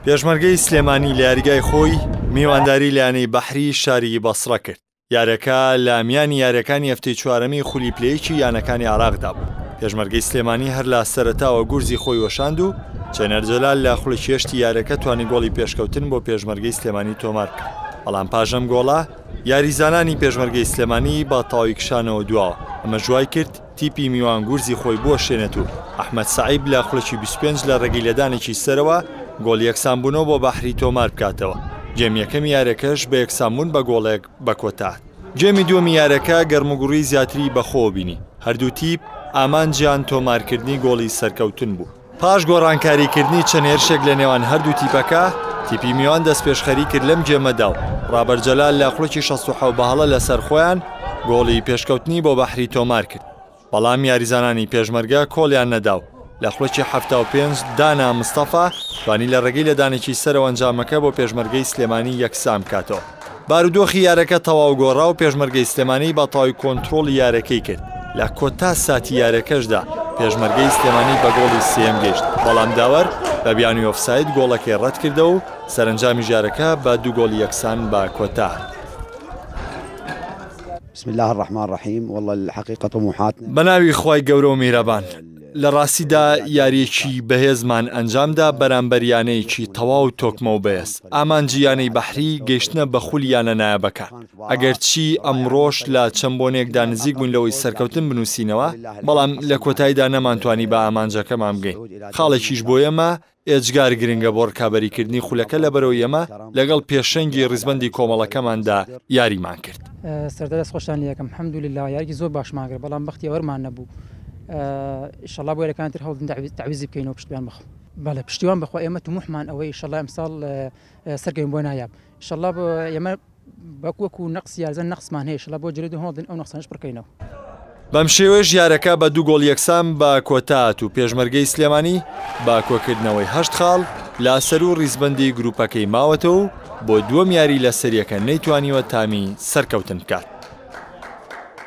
پێشمەرگەی سلێمانی لە یاریگای خۆی میوانداری لە یانەی بەحری شاری بەسڕە کرد یارەکە لە میانی یاریەکانی هەفتەی چوارەمی خولی پلەیەکی یانەکانی عراقدا بوو پێشمەرگەی سلێمانی هەر لە سەرتاوە گورزی خۆی وەشاند و چێنەر جەلال لە خولی چێشتی یارەکە توانی گۆڵی پێشکەوتن بۆ پێشمەرگەی سلێمانی تۆمار کرد بەڵام پاژەم گۆڵە یاریزانانی پێشمەرگەی سلێمانی بە تەواوی کشانەوە دواوە ئەمە ژوای کرد تیپی میوان گورزی خۆی بوەشێنێت و ئەحمەد سەعیب لە خولەکی بیست و پێنج لە رێگەی لێدانێکی سەرەوە گۆڵی یەکسانبوونەوە بۆ بەحری تۆماربکاتەوە، گێمی یەکەمی یاریەکەش بە یەکسانبوون بە گۆڵێک بەکۆتاهات. گێمی دووەمی یاریەکە گەرموگوڕی زیاتری بەخۆوە بینی، هەردوو تیپ ئامانجیان تۆمارکردنی گۆڵی سەرکەوتن بوو، پاش گۆڕانکاریکردنی چەند هێرشێک لە نێوان هەردوو تیپەکە، تیپی میوان دەستپێشخەری کرد لەم گێمەدا و ڕابەر جەلال لە خولەکی شەست و حەوت بە هەڵە لەسەر خۆیان گۆڵی پێشکەوتنی بۆ بەحری تۆمارکرد، بەڵام یاریزانانی پێشمەرگە کۆڵیان نەدا و لە خولەکی حەفتا و پێنج دانا مستەفا توانی لە ڕێگەی لێدانێکی سەرەوە ئەنجامەکە بۆ پێشمەرگەی سلێمانی یەکسانبکاتەوە. بارودۆخی یارەکە تەواو گۆڕا و پێشمەرگەی سلێمانی بەتەواوی کۆنترۆڵی یارەکەی کرد، لە کۆتا ساتی یارەکەشدا پێشمەرگەی سلێمانی بە گۆڵی سێیەم گەیشت، بەڵام داوەر بە بیانووی ئۆفساید گۆڵەکەی رەتکردەوە و سەرەنجامیش یارەکە بە دوو گۆڵ یەکسان بە کۆتا هات. بەناوی خوای گەورە و میرەبان. لە ڕاستیدا یارییەکی بەهێزمان ئەنجامدا بەرامبەر یانەیەکی تەواو تۆکمە و بەێز، ئامانجی یانەی بەحری گەیشتنە بە خولی یانە نایابەکان، ئەگەرچی ئەمڕۆش لە چەند بۆنێکدا نزیک بووین لەوەی سەرکەوتن بنووسینەوە، بەڵام لە کۆتاییدا نەمانتوانی بە ئامانجەکەمان بگەین، خاڵێکیش بۆ ئێمە ئێجگار گرنگە بۆ ڕکابەریکردنی خولەکە لەبەرەوەی ئەمە لەگەڵ پێشەنگی ڕیزبەندی کۆمەڵەکەماندا یاریمان کرد. سەردار دەست خۆشتان لێ ئەکەم حمد للە یاریەکی زۆر باشمان کرد بەڵام بەختی ئەوەرمان نەبوو ئیشەڵا بۆ یاریەکانی تر هەوڵدن تەعویزی بکەینەوە پشتیوان بەخوا. بەڵێ پشتیوان بەخوا ئێمە تموحمان ئەوەیە ئیشەڵا ئەمساڵ سەرکەوین بۆ نایاب ئیشەڵا ئێمە. بەک وەکو نەقس یارزە نەقسمان هەیە شڵە بۆ جرێدو هەوڵدن ئەو نەقسانەش پڕکەینەوە. بەم شێوەیەش یارەکە بە دوو گۆڵ یەکسان بە کۆتا هات و پێشمەرگەی سلێمانی بە کۆکردنەوەی هەشت خاڵ لە سەروو ڕیزبەندی گروپەکەی ماوەتەوە و بۆ دووەم یاری لە سەریەکە نەیتوانیوە تامی سەرکەوتن بکات.